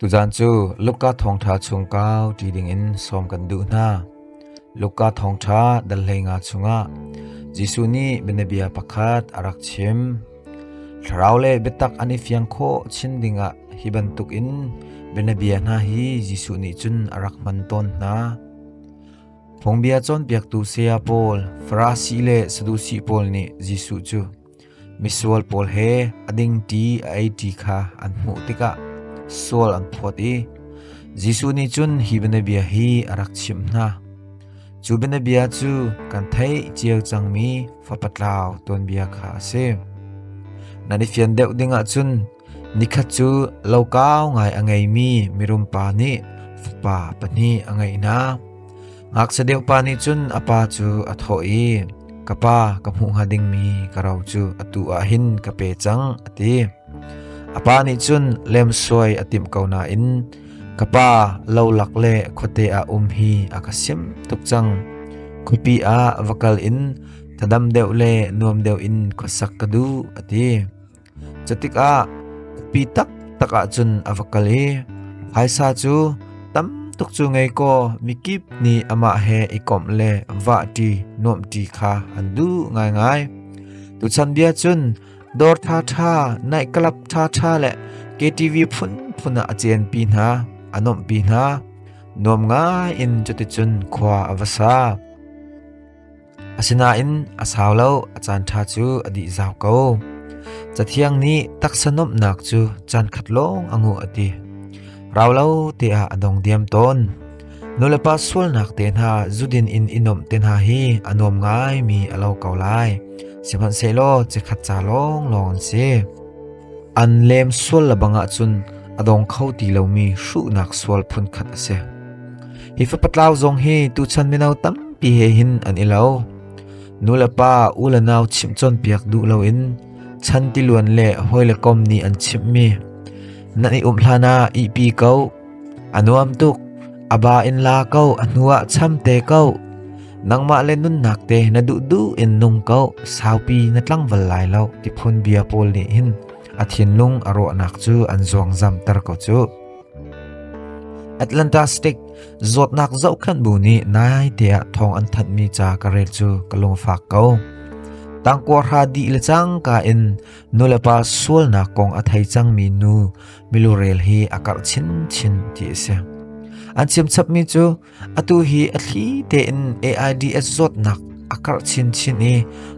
Tuzan cu Luka thawngṭha chung kau ti dingin sawm kan duh hna. Luka thawngṭha dal hleinga chungah Jesuh nih bianabia pakhat a rak chim. Thlarau le biatak an i fiang khawh chin dingah hi bantukin bianabia hna hi Jesuh nih cun a rak hman tawn hna. Phungbia cawnpiaktu saya pawl, Farasi le Sadusi pawl nih Jesuh cu Misual pawl he a ding ṭi a ei ṭi kha an hmuh tikah sual an phawt i Jesuh nih cun hi bianabia hi a rak chimh hna: Cu bianabia cu kan theih cio cangmi Fapa tlau tuanbia kha a si. Nan i fian deuh dingah cun Nikhat cu lokau ngai a ngeimi mirum pa nih fapa pahnih a ngeih hna. Ngakchia deuh pa nih cun a pa cu a thawh i, Ka pa, ka hmuh hnga dingmi ka ro cu atu ah hin ka pe cang, a ti. A pa nih cun lemsuai a timh ko nain ka pa lolak le khuate ah um hi a ka sim tuk cang. Khuapi ah va kal in thadam deuh le nuam deuh in khuasak ka duh, a ti. Cutikah upi taktak ahcun a va kal i phaisa cu tam tuk cu ngei kaw mikip nih amah he i komh le vahṭi nuamhṭi kha an duh ngaingai. Tuchan bia cun dawr ṭhaṭha, nightclub ṭhaṭha le KTV phunphun ah a cianpi hna, a nuamhpi hna. Nuam ngai in cuticun khua a va sa. Asinain a sau lo, a caanṭha cu a dihzau ko. Cathiang nih taksa nuamhnak cu caankhat lawng a nguh a ti. Rau lo te ah a dong diam tawn. Nulepa sualnak te hna zudin in i nuamh te hna hi a nuam ngaimi a lo ko lai. Sihmanhsehlaw cikhat ca lawnglawng an si. An lem sual le bangah cun a dong kho ti lomi hruhnak sual phunkhat a si. Hi fapatlau zong hi tuchan mino tampi he hin an i lo. Nu le pa, u le nau chimh cawnpiak duh loin chan tiluan le hawi le kom nih an chimhmi nan i umh hlan ah ihpi ko. A nuam tuk, a ba in la ko, a hnu ah cham te ko. Nangmah le nunnak te na duh duh in nung ko, saupi na tlangval lai lo ti phun bia pawl nih hin a thinlung a rawhnak cu an zuangzam ter ko cu. Atlanta State zawtnak zohkhenh bu nih naite ah thawng an thanhmi ca ka rel cu ka lungfak ko. Tangkua hra dih le cangka in nulepa sualnak kong a thei cangmi nu milurel hi a karh chinchin ti a si. An chimchapmi cu Atu hi a thli tein AIDS zawtnak a karh chinchin i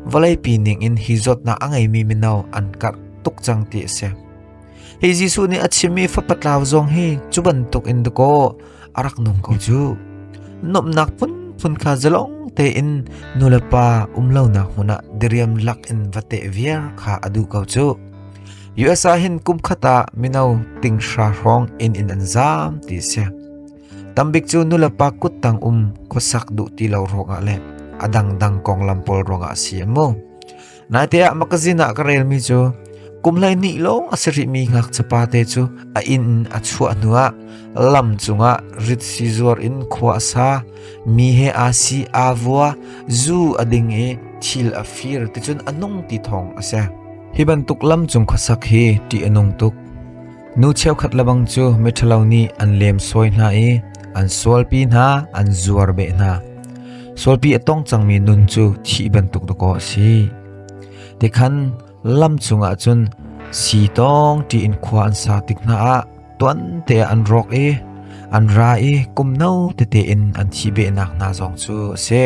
vawleipi ningin hi zawtnak a ngeimi mino an karh tuk cang ti a si. Hi Jesuh nih a chimmi fapatlau zong hi cu bantuk in dakaw a rak nung ko cu. Nomnak phunphun kha zalong tein nulepa umlonak hmun ah diriam lak in vate viar kha a duh ko cu. USA hin kum khata mino tingshra hrawng in in an zam ti si. Tambik cu nulepa kuttang um khuasak duh ti lo ruangah le a dangdang konglam pawl ruangah si an mu. Naite ah makazin ah ka relmi cu kum hlei ni lawng a si rihmi ngakchapa te cu a inn a chuah hnuah lam cungah rit si zuar in khua a sa mi he a si a vua zu a ding i thil a fir ticun a nung ti thong a si hi bantuk lam cung khuasak hi ti a nung tuk Nu cheukhat lebang cu miṭhalo nih an lemsawi hna i an sualpi hna, an zuar beh hna. Sualpi a tong cangmi nun cu thih bantuk dawkaw a si. Tikhan lam cungah cun si tong tiin khua an sa tik hna ah tuante an rawk i an ra i kum no tete in an thi behnak hna zong cu a si.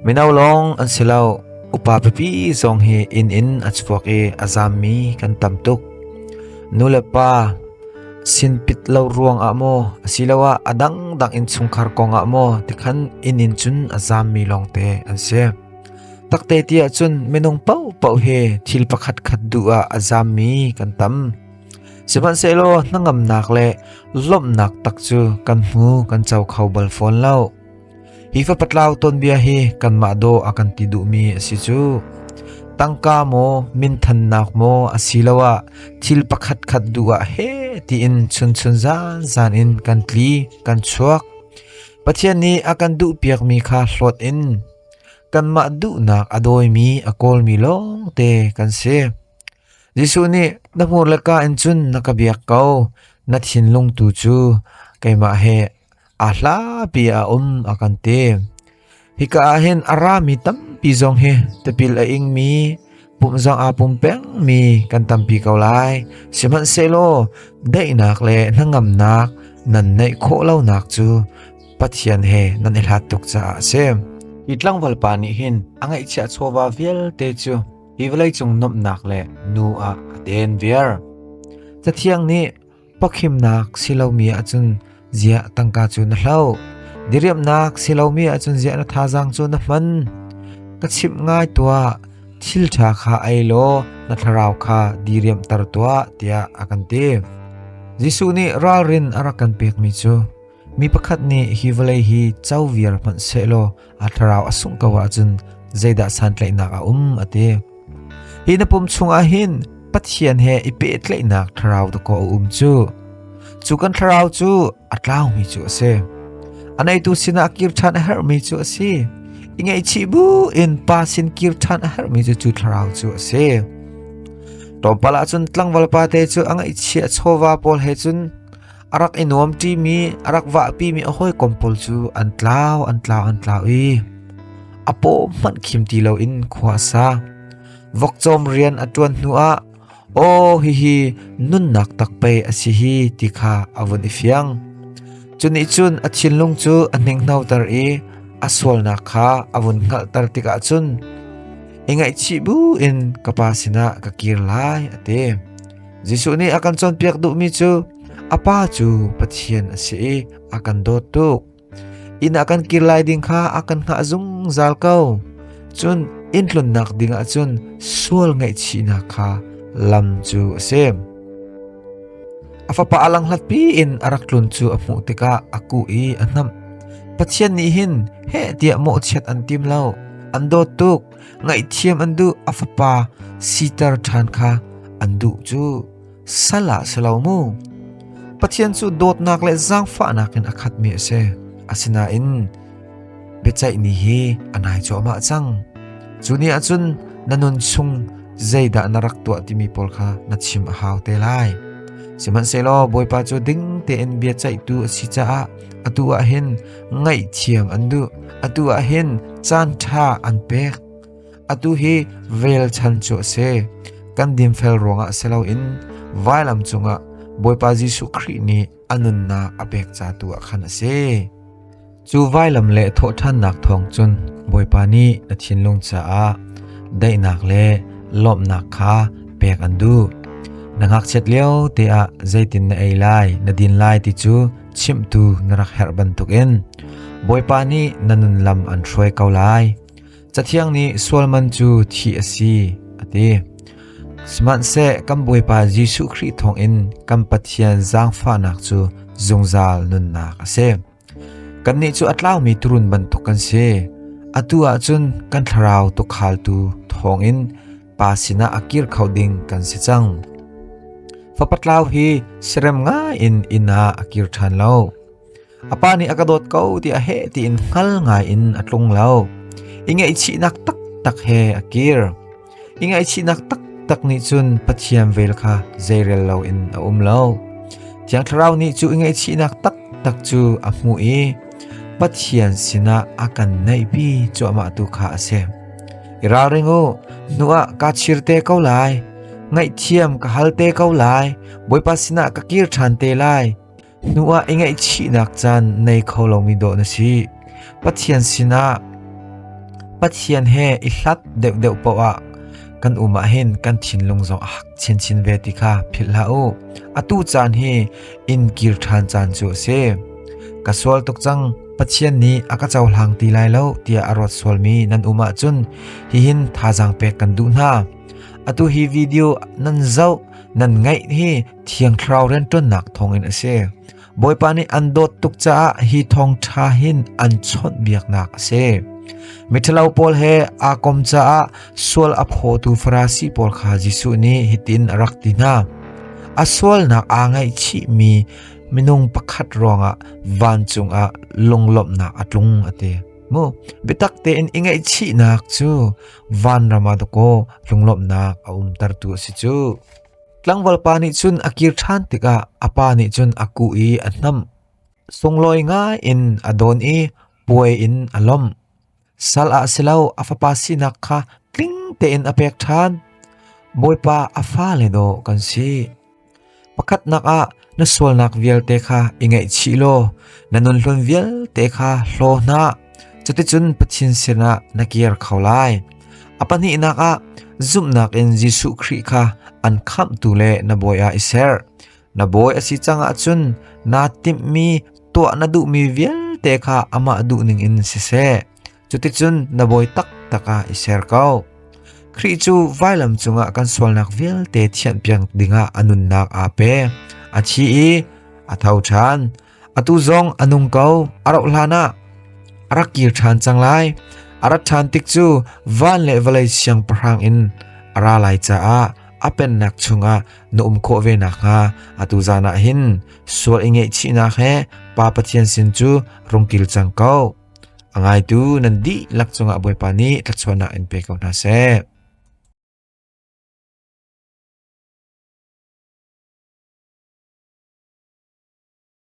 Mino lawng an si lo. Upa pipi zong hi inn in a chuak i a zammi kan tam tuk. Nu le pa sin pit lo ruang ah maw asiloah a dangdang in chungkhar kong ah maw tikhan inn in cun a zammi lawng te an si. Takte ti ahcun minung paupo he thil pakhat khat du ah a zammi kan tam. Sihmanhsehlaw hnangamnak le lawmhnak tak cu kan hmu kan co kho bal fawn lo. Hi fapatlau tonbia hi kanmah daw a kan ti duhmi a si cu. Tangka maw minthannak maw asiloah thil pakhat khat duh ah he tiin chunchun zanzan in kan tli, kan chuak. Pathian nih a kan duhpiakmi kha hlawt in kanmah duhnak a dawimi a kawlmi lawng te kan si. Jesuh nih na hmur le ka in cun na ka biak ko, na thinlung tu cu keimah he a hlapi ah um a kan ti. Hika ahhin a rami tampi zong hi tipil a ingmi pum zong aa pum pengmi kan tampi ko lai. Sihmanhsehlaw daihnak le hnangamnak nan neih khawh lonak cu Pathian he nan i hlat tuk caah a si. Hi tlangval pa nih hin a ngaihchia chawva vialte cu hi vawleicung nuamhnak le nu ah a den viar. Cathiang nih Pawkhimnak si lomi ahcun ziah tangka cu na hloh? Diriamhnak si lomi ahcun ziah na thazaang cu na hman? Ka chimh ngai tuah, thil ṭha kha ei law na thlarau kha diriamhter tuah tiah a kan ti. Jesuh nih ralrin a rak kan pekmi cu mi pakhat nih hi vawlei hi co viar hmanh sehlaw a thlarau a sungh ko ahcun zeidah santlaihnak a um a ti. Hi na pum chungah hin Pathian he i pehtlaihnak thlarau ta ko a um cu. Cu kan thlarau cu a tlaumi cu a si. A neitu sinah kir ṭhan a herhmi cu a si. I ngaihchih bu in pa sin kir ṭhan a herhmi cu cu thlarau cu a si. Tlawmpal ah cun tlangval pa te cu a ngaihchih a chawva pawl he cun a rak i nuam ṭimi a rak vahpimi a hawikom pawl cu an tlau an tlau an tlau i a paw hmanh khim ti loin khua a sa vokcawm rian a ṭuan hnuah aw hihi nunnak tak pei a si hi ti kha a vun i fiang cuni cun a thinlung cu a hningnoter i a sualnak kha a vun hngalhter tikah cun i ngaihchih bu in ka pa sinah ka kir lai a ti Jesuh nih a kan cawnpiak duhmi cu a Pa cu Pathian a si i a kan dawt tuk. Inn a kan kir lai ding kha a kan hngah zungzal ko. Cun inn tlunnak ding ah cun sual ngaihchihnak kha lam cu a si. A fapa a langhlatpi in a rak tlun cu a hmuh tikah a kuh i a hnamh. Pathian nih hin heh tiah mawhchiat an tim lo. An dawt tuk. ngaihthiam an duh a fapa siter ṭhan kha an duh cu sal ah si lo mu. Pathian cu dawtnak le zaangfahnak in a khatmi a si. Asinain biaceih ni hi a nai cuahmah cang. Cu ni ahcun na nun chung zeidah na rak tuah timi pawl kha na chim a hau te lai. Sihmanhsehlaw Bawipa cu ding tein bia ceihtu a si caah atu ah hin ngaihthiam an duh atu ah hin caan ṭha an pek atu hi relchan cu a si kan dinfel ruangah si loin vailam cungah Bawipa Jesuh Khrih nih a nunnak a pek ca tu ah khan a si cu vailam le thawhṭhannak thawng cun Bawipa nih na thinlung caah daihnak le lawmhnak kha pek an duh na ngakchiat lio te ah zeitin na ei lai na din lai ti cu chimtu na rak herh bantukin Bawipa nih na nun lam an hruai ko lai. Cathiang nih sual man cu thi a si a ti. Sihmanhseh kan Bawipa Jesuh Khrih thawngin kan Pathian zaangfahnak cu zungzal nunnak a si. Kannih cu a tlaumi turun bantuk kan si. Atu ahcun kan thlarau tukhaaltu thawngin pa sinah a kir kho ding kan si cang. Fapatlau hi sirem ngai in inn ah a kir ṭhan lo. A pa nih a ka dawt ko ti a he tiin hngal ngai in a tlung lo. I ngaihchihnak taktak he a kir. I ngaihchihnak taktak nih cun pathiam vel kha zeirel lo in a um lo. Thiang thlarau nih cu i ngaihchihnak taktak cu a hmu i Pathian sinah a kan naihpi cuahmah tu kha a si. I ralring u, nu ah kaa chir te ko lai. Ngaihthiam ka hal te ko lai. Bawipa sinah ka kir ṭhan te lai. Nu ah i ngaihchihnak caan nei kho lomi dawh na si. Pathian sinah Pathian he i hlat deuhdeuh paoh ah kan um ah hin kan thinlung zong a hak chinchin ve ti kha philh hlah u. Atu caan hi in kir ṭhan caan cu a si. Ka sual tuk cang, Pathian nih a ka cohlang ti lai lo tiah a rawt sualmi nan um ahcun hihin thazaang pek kan duh hna. Atu hi video nan zoh nan ngaih hi Thiang Thlarau rianṭuannak thawngin a si. Bawipa nih an dawt tuk caah hi thawng ṭha hin an chawnh biaknak a si. Miṭhalo pawl he aa kom caah Sual a phawtu Farasi pawl kha Jesuh nih hitin a rak ti hna: A sualnak aa ngaihchihmi minung pakhat ruangah vancung ah lunglawmhnak a tlung a ti. Mu biatak tein i ngaihchihnak cu vanram ah dawkaw lunglawmhnak a umtertu a si cu. Tlangval pa nih cun a kir ṭhan tikah a pa nih cun a kuh i a hnamh. Sunglawi ngai in a dawn i puai in a lawmh. Sal ah si lo a fapa sinak kha tling tein a pek ṭhan. Bawipa a fale daw kan si. Pakhatnak ah na sualnak vialte kha i ngaihchih law na nunhlun vialte kha hlaw hna. Cuticun Pathin sinah na kir kho lai. A pahnihnak ah zumhnak in Jesuh Khrih kha an khamhtu le na bawi ah i ser. Na bawi a si cang ahcun naa timhmi tuah na duhmi vialte kha amah duhning in siseh, cuticun na bawi taktak ah i ser ko. Khrih cu vailam cungah kan sualnak vialte thianhpiak dingah a nunnak aa pe, a thi i a tho ṭhan. atu zong a nung ko a rauh hlan ah a rak kir ṭhan cang lai a rat ṭhan tik cu van le vawlei siang pahrang in a ra lai caah a pennak chungah na um khawh ve nak hnga atu zan ah hin sual i ngeihchihnak he pa pathian sin cu rung kil cang ko a ngaitu nan dihlak cungah bawipa nih tlachuannak in pe ko hna seh